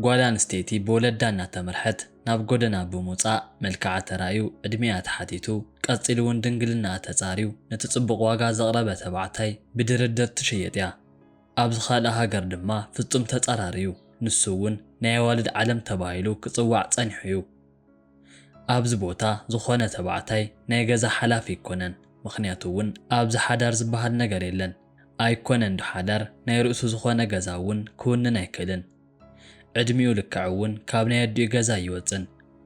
ጓል ኣንስተይቲ ብወለዳ እናተመርሐት ናብ ጎደና ብምውጻእ መልክዓ ተራእዩ፣ ዕድሜኣ ተሓቲቱ፣ ቀጺሉ'ውን ድንግልናኣ ተጻርዩ ነቲ ጽቡቕ ዋጋ ዘቕረበ ተባዕታይ ብድርድር ትሽየጥ'ያ። ኣብ ዝኸልኣ ሃገር ድማ ፍጹም ተጻራሪ'ዩ፣ ንሱ'ውን ናይ ኣዋልድ ዓለም ተባሂሉ ክጽዋዕ ጸኒሑ'ዩ። ኣብዚ ቦታ ዝኾነ ተባዕታይ ናይ ገዛ ሓላፊ ኣይኮነን፣ ምኽንያቱ'ውን ኣብዚ ሓዳር ዝበሃል ነገር የለን። ኣይኮነን ዶ ሓዳር ናይ ርእሱ ዝኾነ ገዛ እውን ክውንን ኣይክእልን ዕድሚኡ ልክዕ እውን ካብ ናይ ኣዲኡ ገዛ ኣይወፅን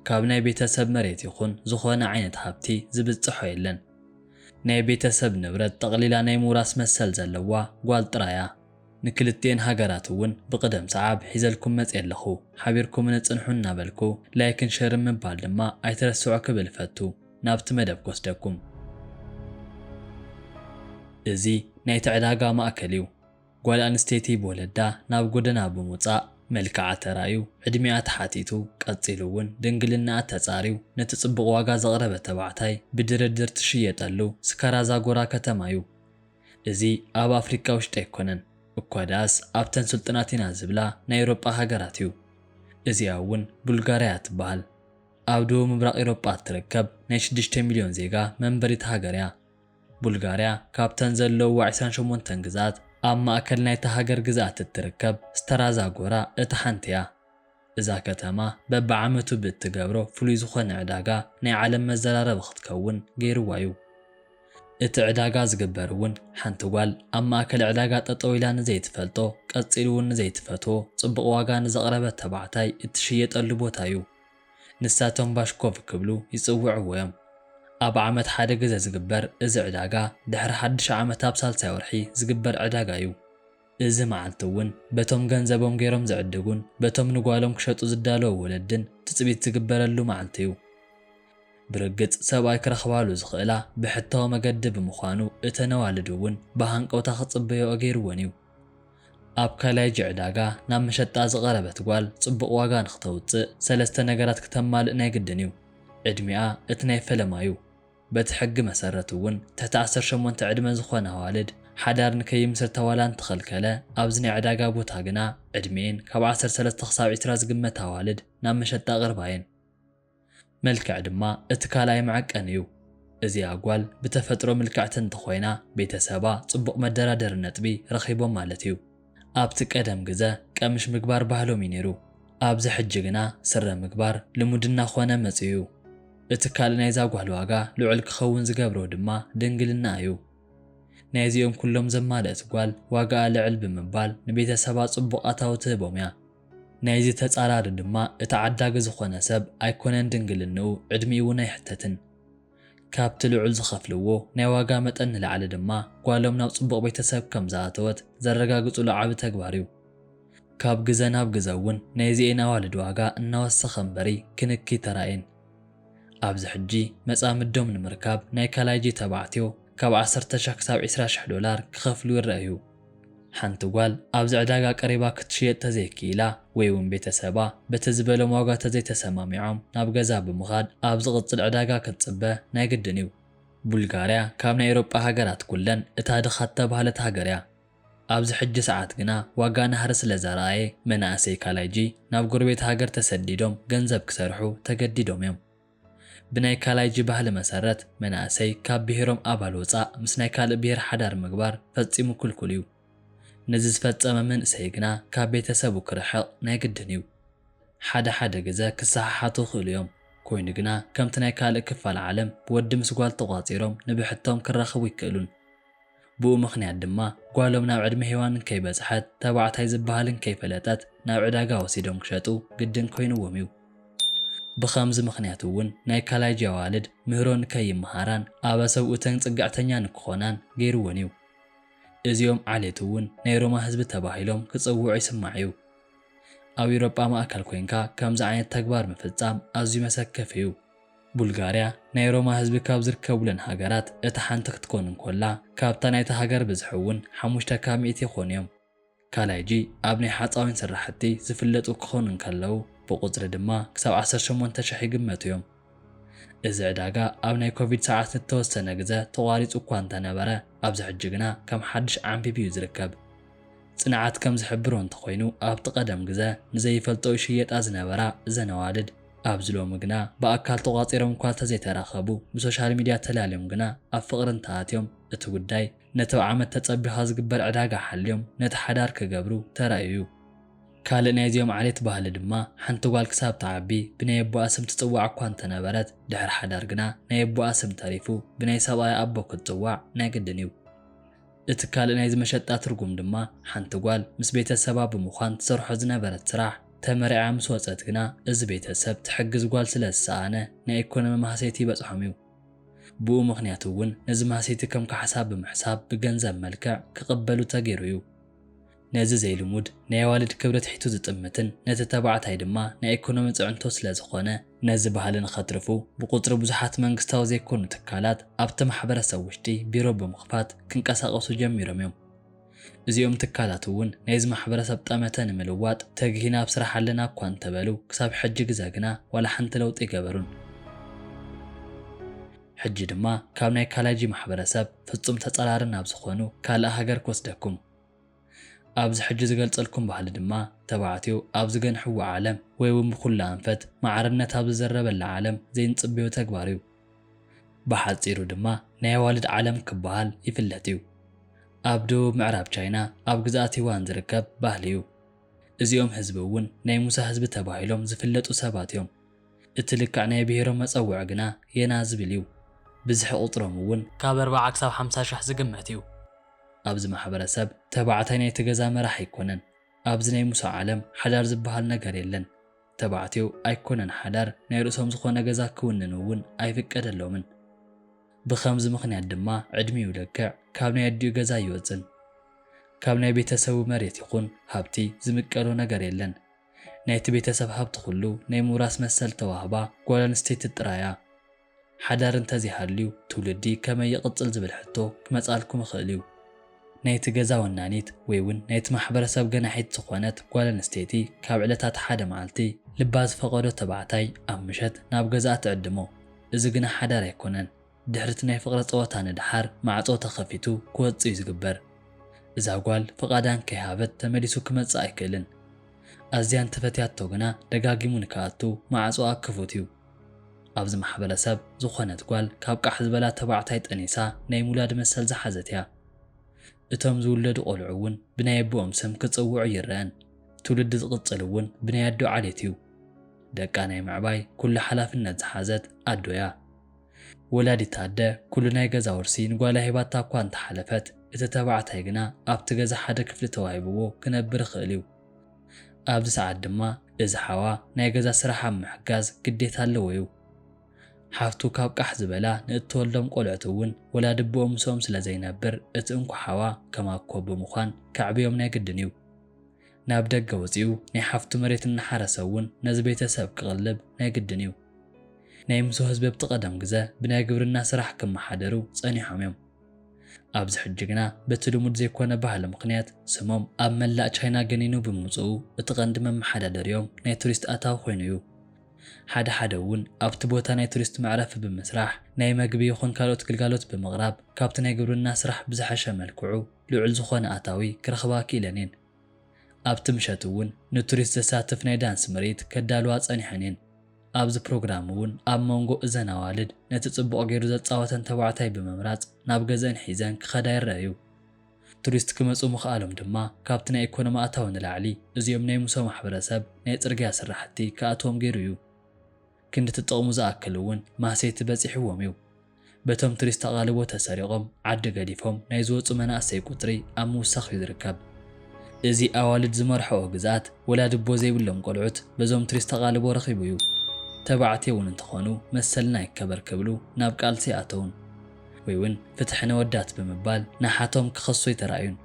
ካብ ናይ ቤተሰብ መሬት ይኹን ዝኾነ ዓይነት ሃብቲ ዝብፅሖ የለን ናይ ቤተሰብ ንብረት ጠቕሊላ ናይ ምውራስ መሰል ዘለዋ ጓል ጥራይ እያ። ንክልቲኤን ሃገራት እውን ብቕደም ሰዓብ ሒዘልኩም መፅየ ኣለኹ ሓቢርኩምኒ ፅንሑ እናበልኩ ላይክን ሸርን ምባል ድማ ኣይትረስዑ ክብል እፈቱ። ናብቲ መደብ ክወስደኩም። እዚ ናይቲ ዕዳጋ ማእከል እዩ። ጓል ኣንስተይቲ ብወለዳ ናብ ጎደና ብምውጻእ መልክዓ ተራእዩ፣ ዕድሚኣ ተሓቲቱ፣ ቀጺሉ እውን ድንግልናኣ ተጻርዩ ነቲ ጽቡቕ ዋጋ ዘቕረበ ተባዕታይ ብድርድር ትሽየጠሉ ስካራ ዛጎራ ከተማ እዩ። እዚ ኣብ ኣፍሪቃ ውሽጢ ኣይኮነን፣ እኳ ደኣስ ኣብተን ስልጡናት ኢና ዝብላ ናይ ኤውሮጳ ሃገራት እዩ። እዚኣ እውን ቡልጋርያ እያ ትበሃል። ኣብ ደቡብ ምብራቕ ኤውሮጳ እትርከብ ናይ ሽዱሽተ ሚልዮን ዜጋ መንበሪት ሃገር እያ። ቡልጋርያ ካብተን ዘለዉዋ ዕስራን ሸሞንተን ግዝኣት ኣብ ማእከል ናይታ ሃገር ግዝኣት እትርከብ ስተራ ዛጎራ እታ ሓንቲ እያ። እዛ ከተማ በብዓመቱ ብእትገብሮ ፍሉይ ዝኾነ ዕዳጋ ናይ ዓለም መዘራረቢ ክትከውን ገይርዋ እዩ። እቲ ዕዳጋ ዝግበር እውን ሓንቲ ጓል ኣብ ማእከል ዕዳጋ ጠጠው ኢላ ንዘይትፈልጦ ቀጺሉ እውን ንዘይትፈትዎ ጽቡቕ ዋጋ ንዘቕረበ ተባዕታይ እትሽየጠሉ ቦታ እዩ። ንሳቶም ባሽኮቭ ክብሉ ይጽውዕዎ እዮም። ኣብ ዓመት ሓደ ግዘ ዝግበር እዚ ዕዳጋ ድሕሪ ሓድሽ ዓመት ኣብ ሳልሳይ ወርሒ ዝግበር ዕዳጋ እዩ። እዚ መዓልቲ እውን በቶም ገንዘቦም ገይሮም ዝዕድጉን በቶም ንጓሎም ክሸጡ ዝዳለዉ ወለድን ትጽቢት ዝግበረሉ መዓልቲ እዩ። ብርግጽ ሰብኣይ ክረኽባሉ ዝኽእላ ብሕታዊ መገዲ ብምዃኑ እተን ኣዋልድ እውን ብሃንቀውታ ክጽበይኦ ገይርወን እዩ። ኣብ ካላይጅ ዕዳጋ ናብ መሸጣ ዝቐረበት ጓል ጽቡቕ ዋጋ ንኽተውጽእ ሰለስተ ነገራት ክተማልእ ናይ ግድን እዩ። ዕድሚኣ እቲ ናይ ፈለማ እዩ። በቲ ሕጊ መሰረት እውን ትሕቲ ዓሰርተ ሸሞንተ ዕድመ ዝኾነ ኣዋልድ ሓዳር ንከይምስርታ ዋላ እንተኸልከለ ኣብዚ ናይ ዕዳጋ ቦታ ግና ዕድሚኤን ካብ ዓሰርተ ሰለስተ ክሳብ ዕስራ ዝግመታ ኣዋልድ ናብ መሸጣ ቅርብ ኣየን። መልክዕ ድማ እቲ ካልኣይ መዐቀኒ እዩ። እዚኣ ጓል ብተፈጥሮ ምልክዕቲ እንተኾይና ቤተሰባ ፅቡቕ መደራደሪ ነጥቢ ረኺቦም ማለት እዩ። ኣብቲ ቀደም ግዘ ቀምሽ ምግባር ባህሎም እዩ ነይሩ። ኣብዚ ሕጂ ግና ስረ ምግባር ልሙድ እናኾነ መፂኡ እዩ። እቲ ካልእ ናይዛ ጓል ዋጋ ልዑል ክኸውን ዝገብሮ ድማ ድንግልናኣ እዩ። ናይዚኦም ኩሎም ዘማልእት ጓል ዋጋኣ ልዕል ብምባል ንቤተሰባ ፅቡቕ ኣታዊ ትህቦም እያ። ናይዚ ተጻራሪ ድማ እቲ ዓዳጊ ዝኾነ ሰብ ኣይኮነን ድንግልንኡ ዕድሚኡ'ውን ኣይሕተትን። ካብቲ ልዑል ዝኸፍልዎ ናይ ዋጋ መጠን ንላዕሊ ድማ ጓሎም ናብ ጽቡቕ ቤተሰብ ከም ዝኣተወት ዘረጋግጹሉ ዓቢ ተግባር'ዩ። ካብ ግዘ ናብ ግዘ'ውን ናይዚኤን ኣዋልድ ዋጋ እናወሰኸ እምበሪ ክንኪ ተራእየን። ኣብዚ ሕጂ መጻምዶም ንምርካብ ናይ ካልኣይ ጅተባዕትዮ ካብ ዓሰርተ ሽሕ ክሳብ ዒስራ ሽሕ ዶላር ክኸፍሉ ይረኣዩ። ሓንቲ ጓል ኣብዚ ዕዳጋ ቀሪባ ክትሽየጥ ተዘይክኢላ ወይ'ውን ቤተሰባ በቲ ዝበሎም ዋጋ ተዘይተሰማሚዖም ናብ ገዛ ብምኻድ ኣብ ዝቕጽል ዕዳጋ ክትጽበ ናይ ግድን እዩ። ቡልጋርያ ካብ ናይ ኤውሮጳ ሃገራት ኩለን እታ ድኻ እተባህለት ሃገር እያ። ኣብዚ ሕጂ ሰዓት ግና ዋጋ ናህሪ ስለዘርኣየ መናእሰይ ካላይጂ ናብ ጎረቤት ሃገር ተሰዲዶም ገንዘብ ክሰርሑ ተገዲዶም እዮም። ብናይ ካላይጂ ባህሊ መሰረት መናእሰይ ካብ ብሄሮም ኣባል ወፃእ ምስ ናይ ካልእ ብሄር ሓዳር ምግባር ፈፂሙ ክልኩል እዩ። ነዚ ዝፈፀመ መንእሰይ ግና ካብ ቤተሰቡ ክርሕቕ ናይ ግድን እዩ። ሓደ ሓደ ግዘ ክሰሓሓቱ ይኽእሉ እዮም። ኮይኑ ግና ከምቲ ናይ ካልእ ክፋል ዓለም ወዲ ምስ ጓል ተቋፂሮም ንብሕቶም ክራኸቡ ኣይክእሉን። ብኡ ምኽንያት ድማ ጓሎም ናብ ዕድመ ሄዋን እንከይበጽሐት ተባዕታይ ዝበሃል እንከይፈለጠት ናብ ዕዳጋ ወሲዶም ክሸጡ ግድን ኮይኑዎም እዩ። ብኸምዚ ምኽንያት እውን ናይ ካላይጂ ኣዋልድ ምህሮ ንከይመሃራን ኣበ ሰብኡተን ጽግዕተኛ ንክኾናን ገይሩወን እዩ። እዚኦም ዓሌት እውን ናይ ሮማ ህዝቢ ተባሂሎም ክጽውዑ ይስማዕ እዩ። ኣብ ኢውሮጳ ማእከል ኮይንካ ከምዚ ዓይነት ተግባር ምፍጻም ኣዝዩ መሰከፊ እዩ። ቡልጋርያ ናይ ሮማ ህዝቢ ካብ ዝርከቡለን ሃገራት እታ ሓንቲ ክትኮን እንኮላ ካብታ ናይታ ሃገር ብዝሒ እውን ሓሙሽተ ካብ ሚእቲ ይኾኑ እዮም። ካላይጂ ኣብ ናይ ሓጻዊን ስራሕቲ ዝፍለጡ ክኾኑ እንከለዉ ብቑጽሪ ድማ ክሳብ ዓሰርተ ሸሞንተ ሽሕ ይግመቱ እዮም። እዚ ዕዳጋ ኣብ ናይ ኮቪድ ሰዓት ንተወሰነ ግዘ ተቋሪጹ እኳ እንተነበረ ኣብዚ ሕጂ ግና ከም ሓድሽ ዓምቢቡ እዩ ዝርከብ። ጽንዓት ከም ዝሕብሮ እንተኾይኑ ኣብቲ ቀደም ግዘ ንዘይፈልጠኦ ይሽየጣ ዝነበራ እዘን ኣዋልድ፣ ኣብዚ ሎሚ ግና ብኣካል ተቋጺሮም እኳ ተዘይተራኸቡ ብሶሻል ሚድያ ተላልዮም ግና ኣብ ፍቕሪ እንተኣትዮም እቲ ጉዳይ ነቲ ብ ዓመት ተጸቢኻ ዝግበር ዕዳጋ ሓልዮም ነቲ ሓዳር ክገብሩ ተራእዩ። ካልእ ናይዚኦም ዓሌት ባህሊ ድማ ሓንቲ ጓል ክሳብ ትዓቢ ብናይ ኣቦኣ ስም ትጽዋዕ እኳ እንተነበረት ድሕሪ ሓዳር ግና ናይ ኣቦኣ ስም ተሪፉ ብናይ ሰብኣያ ኣቦ ክትጽዋዕ ናይ ግድን እዩ። እቲ ካልእ ናይዚ መሸጣ ትርጉም ድማ ሓንቲ ጓል ምስ ቤተሰባ ብምዃን ትሰርሖ ዝነበረት ስራሕ ተመሪዓ ምስ ወጸት ግና እዚ ቤተሰብ ትሕግዝ ጓል ስለ ዝሰኣነ ናይ ኢኮኖሚ ማህሰይቲ ይበጽሖም እዩ። ብኡ ምኽንያት እውን ነዚ ማህሰይቲ ከም ካሕሳ ብምሕሳብ ብገንዘብ መልክዕ ክቕበሉ ተገይሩ እዩ። ነዚ ዘይልሙድ ናይ ኣዋልድ ክብሪ ትሒቱ ዝጥምትን ነቲ ተባዕታይ ድማ ናይ ኢኮኖሚ ፅዕንቶ ስለ ዝኾነ፣ ነዚ ባህሊ ንኸትርፉ ብቁፅሪ ብዙሓት መንግስታዊ ዘይኮኑ ትካላት ኣብቲ ማሕበረሰብ ውሽጢ ቢሮ ብምኽፋት ክንቀሳቐሱ ጀሚሮም እዮም። እዚኦም ትካላት እውን ናይዚ ማሕበረሰብ ጠመተ ንምልዋጥ ተጊህና ኣብ ስራሕ ኣለና እኳ እንተበሉ ክሳብ ሕጂ ግዘ ግና ዋላ ሓንቲ ለውጢ ኣይገበሩን። ሕጂ ድማ ካብ ናይ ካላይጂ ማሕበረሰብ ፍፁም ተፃራሪ ናብ ዝኾኑ ካልእ ሃገር ክወስደኩም። ኣብዚ ሕጂ ዝገልጸልኩም ባህሊ ድማ ተባዕትዮ ኣብ ዝገንሕዋ ዓለም ወይውን ብኹሉ ኣንፈት ማዕርነት ኣብ ዝዝረበላ ዓለም ዘይንጽበዮ ተግባር እዩ። ብሓጺሩ ድማ ናይ ኣዋልድ ዓለም ክበሃል ይፍለጥ እዩ። ኣብ ደቡብ ምዕራብ ቻይና ኣብ ግዝኣት ዩዋን ዝርከብ ባህሊ እዩ። እዚኦም ህዝቢ እውን ናይ ሙሳ ህዝቢ ተባሂሎም ዝፍለጡ ሰባት እዮም። እቲ ልክዕ ናይ ብሄሮም መጸውዒ ግና የና ዝብል እዩ። ብዝሒ ቁጽሮም እውን ካብ ኣርብዓ ክሳብ ሓምሳ ሽሕ ዝግመት እዩ። ኣብዚ ማሕበረሰብ ተባዕታይ ናይቲ ገዛ መራሕ ኣይኮነን። ኣብዚ ናይ ሙሳ ዓለም ሓዳር ዝበሃል ነገር የለን። ተባዕትዮ ኣይኮነን ሓዳር ናይ ርእሶም ዝኾነ ገዛ ክውንኑ እውን ኣይፍቀደሎምን። ብኸምዚ ምኽንያት ድማ ዕድሚኡ ለክዕ ካብ ናይ ኣዲኡ ገዛ ኣይወጽን። ካብ ናይ ቤተሰቡ መሬት ይኹን ሃብቲ ዝምቀሎ ነገር የለን። ናይቲ ቤተሰብ ሃብቲ ኩሉ ናይ ምውራስ መሰል እተዋህባ ጓል ኣንስተይቲ ጥራይ እያ። ሓዳር እንተዘይሃልዩ ትውልዲ ከመይ ይቕጽል ዝብል ሕቶ ክመጽኣልኩም ይኽእል እዩ። ናይቲ ገዛ ወናኒት ወይ'ውን ናይቲ ማሕበረሰብ ገናሒት ዝኾነት ጓል ኣንስተይቲ ካብ ዕለታት ሓደ መዓልቲ ልባ ዝፈቐዶ ተባዕታይ ኣብ ምሸት ናብ ገዛኣ ትዕድሞ። እዚ ግና ሓዳር ኣይኮነን። ድሕሪ'ቲ ናይ ፍቕሪ ጸወታ ንደሓር ማዕጾ ተኸፊቱ ክወጽእ እዩ ዝግበር። እዛ ጓል ፍቓዳ እንከይሃበት ተመሊሱ ክመጽእ ኣይክእልን። ኣዝያ እንተፈትያቶ ግና ደጋጊሙ ንክኣቱ ማዕጾኣ ክፉት እዩ። ኣብዚ ማሕበረሰብ ዝኾነት ጓል ካብ ቃሕ ዝበላ ተባዕታይ ጠኒሳ ናይ ምውላድ መሰል ዝሓዘት እያ። እቶም ዝውለዱ ቆልዑ እውን ብናይ ኣቦኦም ስም ክፅውዑ ኣይረኣን። ትውልዲ ዝቕፅል እውን ብናይ ኣዶ ዓሌት እዩ። ደቃ ናይ ምዕባይ ኩሉ ሓላፍነት ዝሓዘት ኣዶ እያ። ወላዲት ኣደ ኩሉ ናይ ገዛ ውርሲ ንጓላ ሂባታ እኳ እንተሓለፈት እቲ ተባዕታይ ግና ኣብቲ ገዛ ሓደ ክፍሊ ተዋሂብዎ ክነብር ይኽእል እዩ። ኣብዚ ሰዓት ድማ እዚ ሓዋ ናይ ገዛ ስራሕ ኣብ ምሕጋዝ ግዴታ ኣለዎ'ዩ። ሓፍቱ ካብ ቃሕ ዝበላ ንእትወልዶም ቆልዑት እውን ወላዲ'ቦኦም ምስኦም ስለ ዘይነብር እቲ እንኮ ሓዋ ከም ኣኮ ብምዃን ከዕብዮም ናይ ግድን'ዩ። ናብ ደገ ወጺኡ ናይ ሓፍቱ መሬት እናሓረሰ እውን ነዚ ቤተሰብ ክቕልብ ናይ ግድን'ዩ። ናይ ምሶ ህዝቢ ኣብቲ ቀደም ግዘ ብናይ ግብርና ስራሕ ክመሓደሩ ጸኒሖም'ዮም። ኣብዚ ሕጂ ግና በቲ ልሙድ ዘይኮነ ባህሊ ምኽንያት ስሞም ኣብ መላእ ቻይና ገኒኑ ብምምጽኡ እቲ ቀንዲ መመሓዳደሪኦም ናይ ቱሪስት ኣታዊ ኮይኑ እዩ። ሓደ ሓደ እውን ኣብቲ ቦታ ናይ ቱሪስት መዕረፊ ብምስራሕ ናይ መግቢ ይኹን ካልኦት ግልጋሎት ብምቕራብ ካብቲ ናይ ግብርና ስራሕ ብዝሐሸ መልክዑ ልዑል ዝኾነ ኣታዊ ክረኽባ ክኢለን እየን። ኣብቲ ምሸት እውን ንቱሪስት ዘሳትፍ ናይ ዳንስ ምርኢት ከዳልዋ ፀኒሐን እየን። ኣብዚ ፕሮግራም እውን ኣብ ሞንጎ እዘን ኣዋልድ ነቲ ፅቡቕ ገይሩ ዘፃወተን ተባዕታይ ብምምራፅ ናብ ገዘእን ሒዘን ክኸዳ ይረኣዩ። ቱሪስት ክመፁ ምኽኣሎም ድማ ካብቲ ናይ ኢኮኖሚ ኣታዊ ንላዕሊ እዚኦም ናይ ሙሶ ማሕበረሰብ ናይ ፅርግያ ስራሕቲ ክኣትዎም ገይሩ እዩ። ክንዲ ትጥቕሙ ዝኣክል እውን ማህሰይቲ በጺሕዎም እዩ። በቶም ትሪስት ኣቓልቦ ተሰሪቖም ዓዲ ገዲፎም ናይ ዝወጹ መናእሰይ ቁጽሪ ኣብ ምውሳኽ እዩ ዝርከብ። እዚ ኣዋልድ ዝመርሐኦ ግዝኣት ወላዲ'ቦ ዘይብሎም ቆልዑት በዞም ትሪስት ኣቓልቦ ረኺቡ እዩ። ተባዕትዮ እውን እንተኾኑ መሰልና ይከበር ክብሉ ናብ ቃልሲ ኣተዉን ወይ'ውን ፍትሒ ነወዳት ብምባል ንሓቶም ክኸሱ ኣይተራእዩን።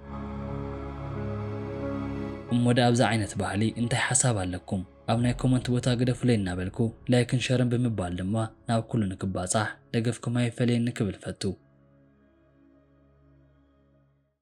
እሞ ድኣ ኣብዚ ዓይነት ባህሊ እንታይ ሓሳብ ኣለኩም? ኣብ ናይ ኮመንት ቦታ ግደፉለይ እናበልኩ ላይክን ሸርን ብምባል ድማ ናብ ኩሉ ንክባጻሕ ደገፍኩም ኣይፈለየኒ ክብል እፈቱ።